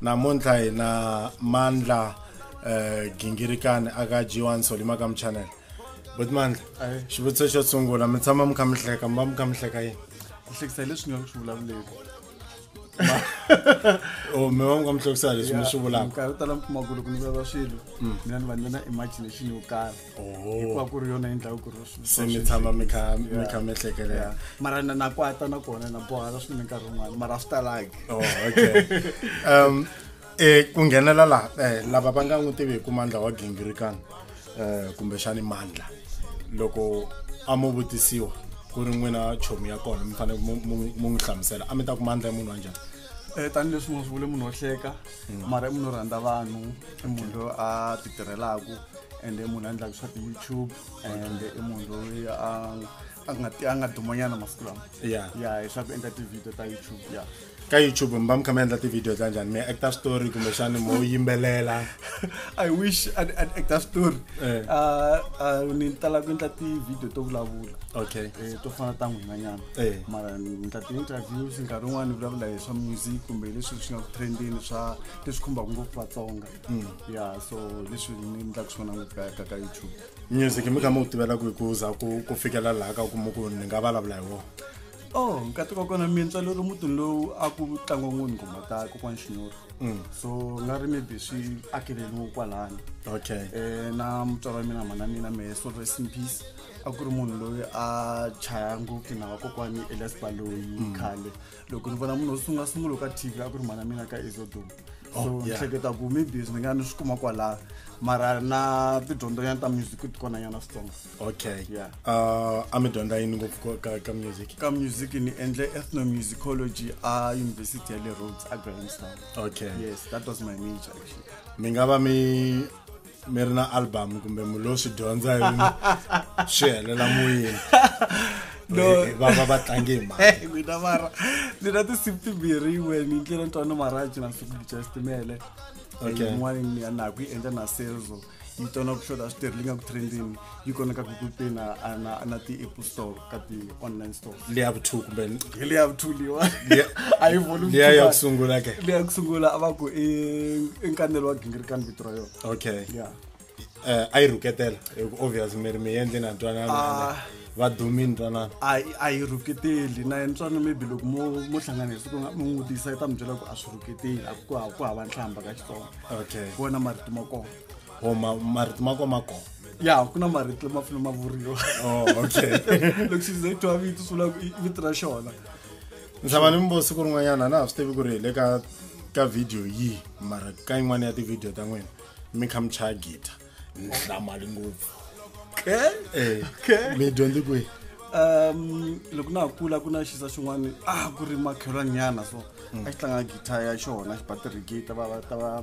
namuntlha hi na mandla um gingirikani aka g one solima ka muchanele but mandla xivutiso xo sungula mi tshama mi kha mi hleka mi va mi kha mi hleka yini ku hlekisa hi leswi nga swi vulavuleki o oh, mi va mi kha mi hlekisa leswi mi swi vulaka nkarhi tala mi kuma ku loko ni vulavula swilo mm. mina ni va ni va na imagination yo karhi hikuva ku ri yona yi endlaka ku ri se mi tshama mi kha mi kha mi hlekelela mara na na kwata na kona na bohala swinene nkarhi wun'wana mara swi talaki oh, okay um eh ku nghenela la eh lava va nga n'wi tiviku mandla wa gingirikana eh kumbexani mandla loko a mu vutisiwa ku ri n'wina chomi ya kona mi fanele mu n'wi hlamusela a mi ta ku mandla munhu wa njhani Eh, tanihileswi mo swi vule munhu wo hleka mm. mara i munhu wo rhandza vanhu i munhu loyi a ti tirhelaka ende i munhu a endlaka swa ti-youtube and i munhu loyi a a nga a nga dumanyana masiku lama ya ya hi swa ku endla ti-video ta youtube ya ka youtube mi va mi kha mi endla ti-video ta njhani mi actor story kumbexani mo yimbelela i wish an actor story eh. ni tala ku endla ti-video to vulavula okay eh, to fana ta n'winanyana eh. mara ni endla ti-interviews nkarhi wun'wana ni vulavula hi swa music kumbe leswi swi nga ku trendini swa leswi khumbaka ngopfu vatsonga Mm. ya so leswi ni endlaka swona ngopfu ka ka ka youtube music mi kha mi ku tivela ku ku za ku ku fikela laha ka ku kuma ku ni nga vulavula hi wona oh nkati wa kona mintswa lero mutini lowu a ku tlangiwa ngoni nghoma ta kokwana xinyoro mm. so nga ri maybe swi akeleliwe kwalani okay um na mutswari wa mina mhana mina mehe so rest in peace a ku ri munhu loyi a chaya ngopfu na vakokwani elias baloyi mm. khale loko ni vona munhu sunga sungula ka tv a ku ri mhana mina ka ezodum oh, so ni hleketa ku maybe ni nga ni swi kuma kwalaha mara na tidyondzonyana ta music ti kona nyana switsongo okay yeah. uh, a mi dyondza yini ngopfu ka, ka music ka music ni endle ethnomusicology a university ya le roads a grahamstown okay yes that was my major actually mi nga va mi mi ri na album kumbe mi lo swi dyondza yini swi helela moyeni vava va tlange hi maina mara ndzi na tinsimu timbirhi yin'we ni ndlela ntwana maraji na siku bicha xitimele yin'wana ni ya naku yi endla na selzo yi tona ku hloda switirhi leyi nga ku trendini yi koneka ku kupina na ti-apple store ka ti-online store leyi ya vu-two kumbe hi leyi ya vu-two leyiwa a yi volume leya ya ku sungula ke leya ku sungula a va ku i nkanelo wa gingirikani vito ra yona okay ya um a yi rhuketela hi ku obvious mi ri mi yendle na ntwanana ah. va dumini ntwanana a yi rhuketeli na yena ntswana maybe loko mo mo hlanganisa ku mi n'wi vutisa yi ta mi byela ku a swi rhuketeli a ku hava nhlamba ka xitsonga okay ku wena marito ma kona o oh, marito ma kona ma kona ya hakuna marito lama fanele ma vuriwa oh, okay loko xi ze twa vito swi vula vito ra xona nxava ni mbo siku rin'wanyana na ha swi tivi ku ri hi le ka ka video yihi mara ka yin'wana ya tivhidiyo ta n'wina mi kha mi chaya gita ni hlamali ngopfu okay eh, okay mi dyondzi kwihi um loko na ha kula ku na xisa xin'wana a ah, ku ri makhelwanyana so mm. a xi tlanga gita ya xona xi batirigita va va ta va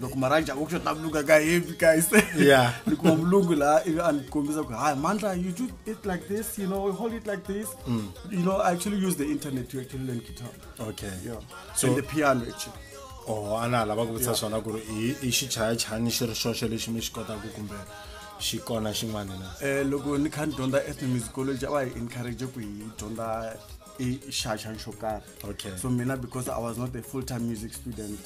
loko maranja wo kushota vulunga ka heavy guys yeah ni kuma vulungu la ivi a ni kombisa ku hi mandla you do it like this you know hold it like this mm. you know i actually use the internet to actually learn guitar okay yeah so and the piano actually oh ana lava ku vutisa swona ku ri i xichayachani xi ri xoxe lexi mi xi kotaka kumbe xi kona xin'wana na um loko ni kha ni dyondza ethnomusicology a va hi encourage ku hi dyondza e xaxan xo karhi okay. so mina because i was not a full time music student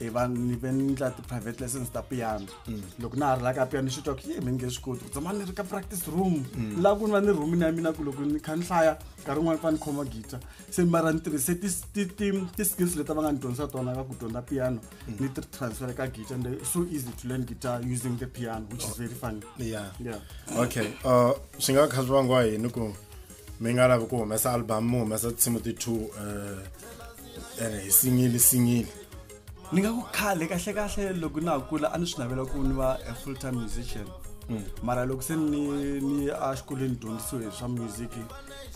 e va ni ve ni ndla ti-private lessons ta piano mm. loko na ha ri la ka piano ni swi twa ku ye mi nge swi koti ku tshama ni ri ka practice room mm. laha ku ni va ni rhumini ya mina ku loko ni kha ni hlaya nkarhi wun'wana fa ni khoma guitar se mara ni tirhise ti-skills leti va nga ni dyondzisa tona ka ku dyondza piano mm. ni ti transfer ka guitar and so easy to learn guitar using the piano which is very funny yeah, yeah. okay uh, swi nga kha swi vangiwa yini ku mi nga lavi ku humesa album mi humesa tinsimu ti-two um ene hi singili singili ni nga ku khale kahle kahle loko na ha kula a ni swi navela ku ni va a full time musician hmm. mara loko se ni ni a xikolweni dyondzisiwe hi swa music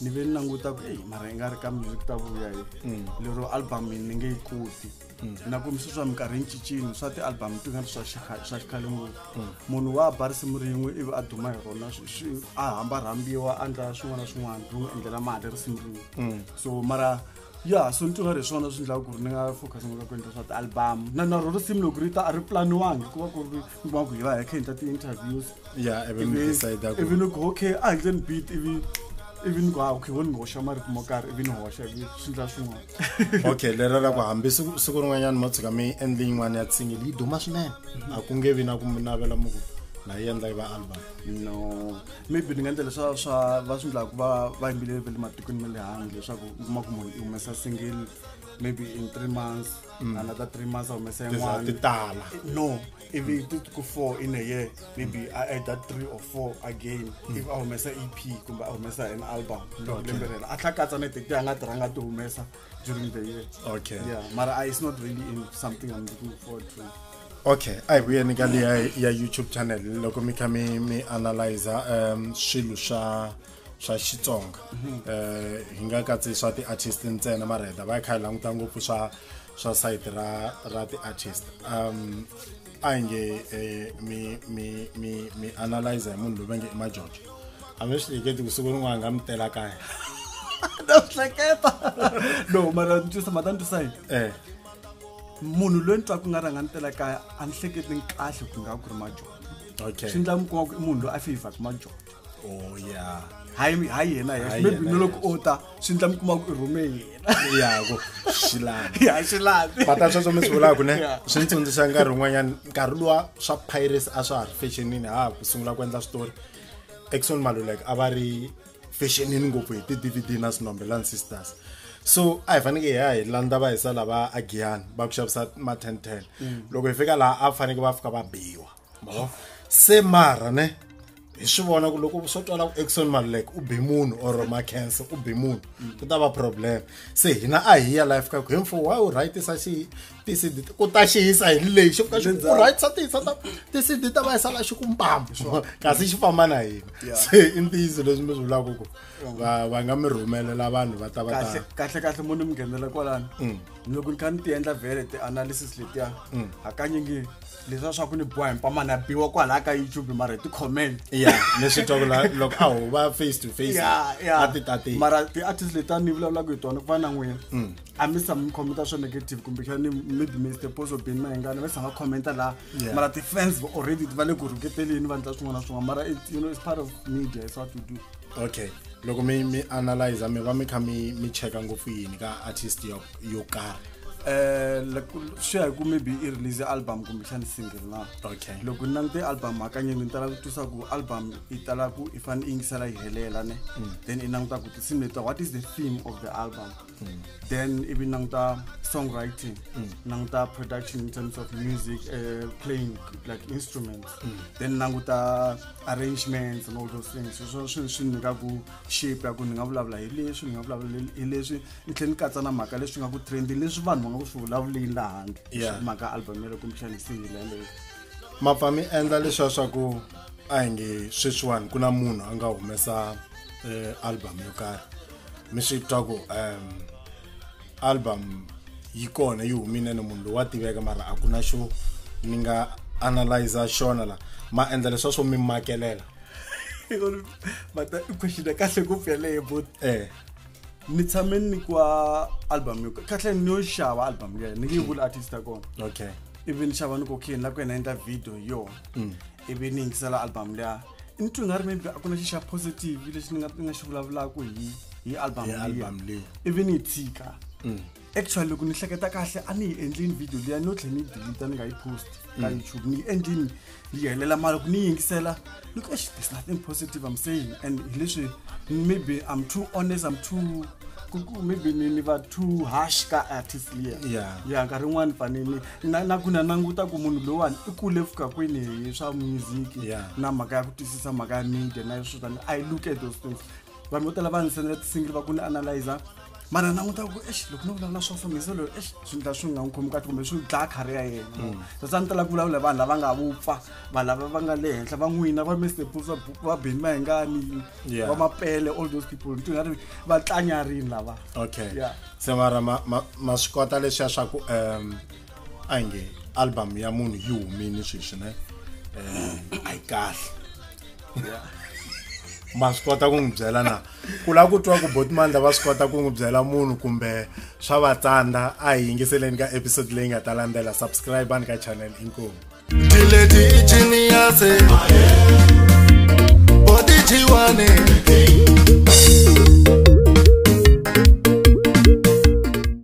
ni ve ni languta ku eyi mara yi nga ri ka music ta vuya hi hmm. lero album ni nge yi koti Mm. na ku misi swa minkarhi yi cincini swa ti-album ti nga ri swa swa xikhale ngopfu mm. munhu wa ba risimu rin'we ivi a duma hi rona a hamba rhambiwa a endla swin'wana na swin'wana ri n'wi endlela mali risimu rin'we mm. so mara ya so ni twa ri swona swi endlaka ku ri ni nga focus ngaka ku endla swa ti-album na na ro risimu loko ri ta a ri planiwangi ku va ku ri kuma ku hi va hi kha hi endla ti-interviews ya ivi mi decide ku ivi ni ku okay a handle ni beat ivi ivi ni ku ha okay wo ni hoxa marito mo karhi ivi ni hoxa ivi swi ndla swin'wana okay lera ra ku hambi siku siku rin'wanyana mo tshuka mi endle yin'wana ya tsingile yi duma swinene mhm. a ku nge vi na ku mi navela mu ku na yi endla yi va album no maybe ni nga endla leswa swa va swi ndlaku va va yimbile ve le matikweni ma le handle leswaku u kuma ku munhu i humesa single maybe in three months mm. another three months a humesa yin'wana ti tala no if it did go four in a year maybe i add that three or four again mm. if a humesa ep kumbe a humesa an album lembe rela a tlhakatsa na tete a nga tirhanga ti humesa during the year okay yeah mara it's not really in something i'm looking forward to okay a hi vuyeni ka leya ya youtube channel loko mi kha mi mi analyza um swilo swa swa xitsonga um hi nga katsi swa ti-artist ntsena mara hi ta va hi kha hi languta ngopfu swa swa sayiti ra ra ti-artist um a hi nge um mi mi mi mi analyze hi munhu loyi va nge i majojo a mi swi hleketi ku siku rin'wana nga mi tela kaya na swi hleketa no mara ni twisa mata ni twisa yini um munhu loyi ni twa ku nga rhanga ni tela kaya a ni hleketi ni kahle ku nga ku ri majojo okay swi ndla mi kuma ku i munhu loyi a feyivhaka majojo oh ya hayi hayi yena Hayi yes maybe yena, no loko o ta swi ndla mi kuma ku i rhume yena yako xilani ya swi lavi bata sweswo mi swi vulaka ne Yeah. swi ni tsundzuxa nkarhi wun'wanyana nkarhi luwa swa pirates a swa ha ri fashionini ha ha ku sungula ku endla switori exon malulek a va ri fashionini ngopfu hi ti-dvd na sinombelani sisters so a hi faneke hi ya hi landza va hisa lava agiyani va ku xavisa ma ten ten loko hi fika laha a faneke va fika va biwa mavo se mara ne hi swi vona ku loko swo twala ku exon maluleke u be munhu or macanse u be munhu mm. ku ta va problem se hina a hi ya life ka ku hemfo wa u rightisa xi tisidi ku ta xi yisa hi lexi ku ka xi u rightisa tiyisa ta tisidi ta va yi sala xi ku mpambo kasi xi famba na hina se i ntiyiso leswi mi swi vulaka ku va va nga mi rhumelela vanhu va ta va ta kahle kahle mo ni mi nghenela kwalano mm. loko ni kha ni ti endla vele ti-analysis letiya mm. hakanyingi leswa swa ku ni boha himpamana biwa kwalaya ka youtube mara hi ti-comment ya leswi twaku loko a ho va face to face a ti tate mara ti-artist leti a ni vulavulaka hi tona ku va na n'wina mm. a mi sa mi khomenta swo negative kumbe xani maybe mister poso bini mahingana va sa nga khomenta laha mara ti-fans already va le ku rhuketeleni va ndla swin'wana na swin'wana mara you know it's part of media is what we do okay loko mi mi analyza mi va mi kha mi mi cheka ngopfu yini ka artist yo yo karhi um swi ya hi ku maybe i release album kumbexani single na okay loko ni langute album hakanyingi ni tala ku twisa ku album i tala ku i fanele i yingisela yi helela ne hmm. then i languta ku tinsimu leta what is the theme of the album hmm. then ivi languta songwriting hmm. languta production in terms of music uh, playing like instruments then languta arrangements and all those things so swi swi nyika ku shape ya ku ni nga vulavula hi leswi ni nga vulavula hi leswi ni tlhela ni katsa na mhaka leswi nga ku trendi leswi vanhu va nga ku swi vulavuleni laha handle Yeah. mhaka album yaleyo kumbexani single yaleyo mapfa mi endla leswiya swa ku a hi nge sweswiwani ku na munhu a nga humesa eh, album yo karhi mi swi twa ku um album yi kona yi humile ni munhu loyi wa tiveka mara a ku na xo ni nga analyza xona la ma endla leswiya swo mi makelela Mata- i question ya kahle ngopfu yaleyo but eh ni tshame ni kwa album yo kahle ni yo xava album leyi ni nge vula artist ya kona okay ivi ni xava ni ku okay ni la ku yena endla video hi yona mm. ivi ni yingisela album leya ni twi nga ri maybe a ku na xi xa positive lexi ni nga ni nga xi vulavulaka hi hi album leyi ivi ni yi tshika mm. actually loko ni hleketa kahle a ni yi endlini video liya no tlhela ni yi delita ni nga yi post ka mm. youtube ni yi endlini ni yi helela mara loko ni yi yingisela ni ku ex there's nothing positive i'm saying and hi leswi maybe i'm too honest i'm too maybe ni ni va too harsh ka artist liya yeah. ya nkarhi yin'wani fanini na, na ku na languta ku munhu lowani i kule fika kwini hi swa music yeah. na mhaka ya ku twisisa mhaka ya media na swo tani i look at those things vanhu vo tala va ndzi sendela ti-single va ku ni analyzer mara languta ku ex loko no vulavula swa so mhizelo ex swi ndla swi nga n'wi khomi kahle kumbe swi dlaya khari ya yena mm. sasa ni tala ku vulavula vanhu lava nga vupfa vanhu lava va nga le henhla va n'wina va mestepusa va beni va hingani va mapele all those people ni tingari va tlanyarini lava okay se mara ma swi kota leswiya swa ku um a nge album ya munhu yi humini sweswi ne um a yi kahle ma swi kota ku n'wi byela na ku lava ku twa ku botmandla va swi kota ku n'wi byela munhu kumbe swa va tsandza a hi yingiseleni ka episode leyi nga ta landzela subscribe ani ka channel inkomu dileti jiniyase botijiwane